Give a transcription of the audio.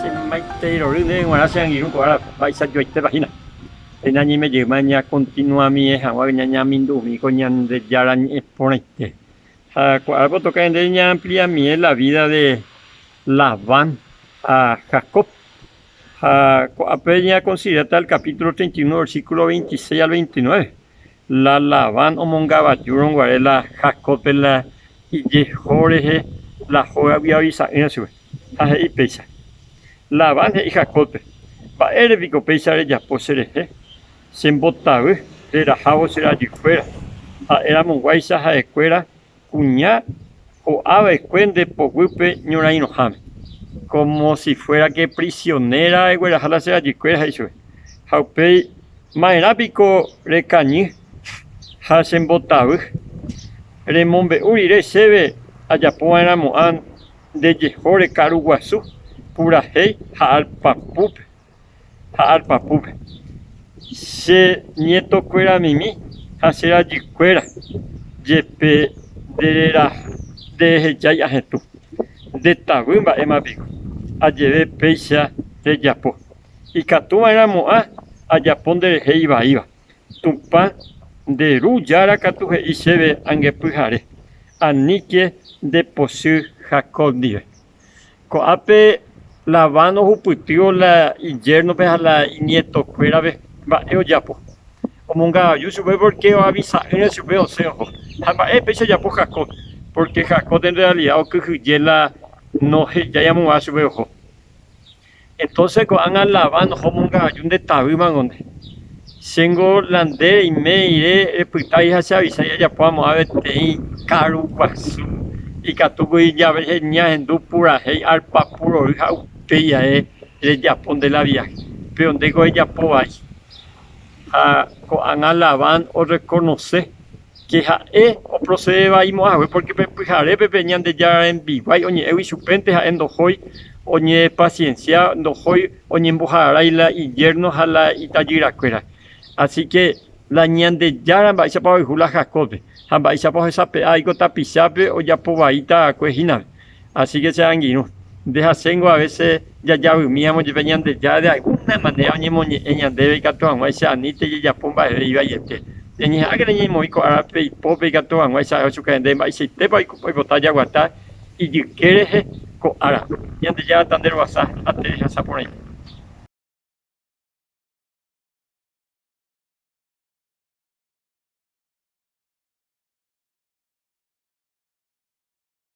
Chemomaiteirorýne g̃uarã che angirũ ko árape, mba'eichajoaitépa hína. Péina ñaimejýma ñakontinuamie hag̃ua ñañamindumi ko Ñandejára Ñe'ẽ porãite. Ha ko árape otoka ñande ñaampliamie la vída de Labán ha Jacob. Ha ko'ápe ñakonsideráta el kapítulo treinta y uno, versíkulo veintiséis al veintinueve. La Labán omongavajúrõ guare la Jacóbpe la ijeho rehe la hógagui avisa'ỹre chupe, ha he'i péicha. Labán he'i Jacóbpe, Mba'ére piko péicha rejapo cherehe? Che mbotavy rerahávo che rajykuéra, ha'éramoguáicha ha'ekuéra Kuña ho'a va'ekue nde poguýpe ñorãirõháme, kómo si fuéra ke prisionéra regueraha la che rajykuéra, he'i chupe. Ha upéi, Ma'erã piko rekañy ha chembotavy? Remombe'u rire chéve ajapo va'erã mo'ã nde jehóre karu guasu purahéi ha alpapúpe. ha arpa púpe, che ñetokuéra mimi ha che rajykuéra, jepe nderehejái ahetũ, ndetavy mba'éma piko ajeve péicha rejapo, ikatu va'erã mo'ã ajapo nderehe ivaíva, Tupã nde Ru Jára katu he'i chéve angepyhare, aníke ndepochy Jacob ndive. Ko'ápe Labán ohupytývo la iyérnope ha la iñietokuérape mba'e ojapo. Omongavaju chupe pórke oavisa'ỹre chupe osẽ oho. Ha mba'e péicha ojapo Jacob? Pórke Jacob en realida okyhyje la nohejái amombáva chupe oho. Entonces ko'ág̃a Labán oho omonga'aju nde tavy mag̃onde. Chéngo la nde reime rire repytái ha che avisái ajapo amo'ã peteĩ káru guasu, ikatu voi ñahendu purahéi arpa purory ha upéi ae rejapo nde la viaje, péro ndéko ejapo vai. Ha ko'ág̃a Labán orrekonose che ha'e oprocede vai mo'ãhague, porque pe pyharépe pe Ñandejára rembiguái oñe'ẽgui chupénte ha'e ndohói oñepaciencia, ndohói oñemboharái la iyérno ha la itajyrakuéra. Asi ke la Ñandejára mba'éichapa oayhu la Jacóbpe, ha mba'éichapa ohesape'a aiko tapichápe ojapo vai tarakue hínape. Asíke che angirũ, ndehasýingo avese jajavymíramo jepe Ñandejára de algúna manera oñemoñe'ẽ ñandéve ikatu hag̃ua che aníta ijejapo mba'eve ivaíete. Ñañeha'ãke reñemoĩ ko árape ipópe ikatu hag̃ua isa'e chupe rende mba'eichaitépa oipota jaguata ijyke rehe ko ára. Ñandejára ta nde ruasa ha nde rehasa porãite.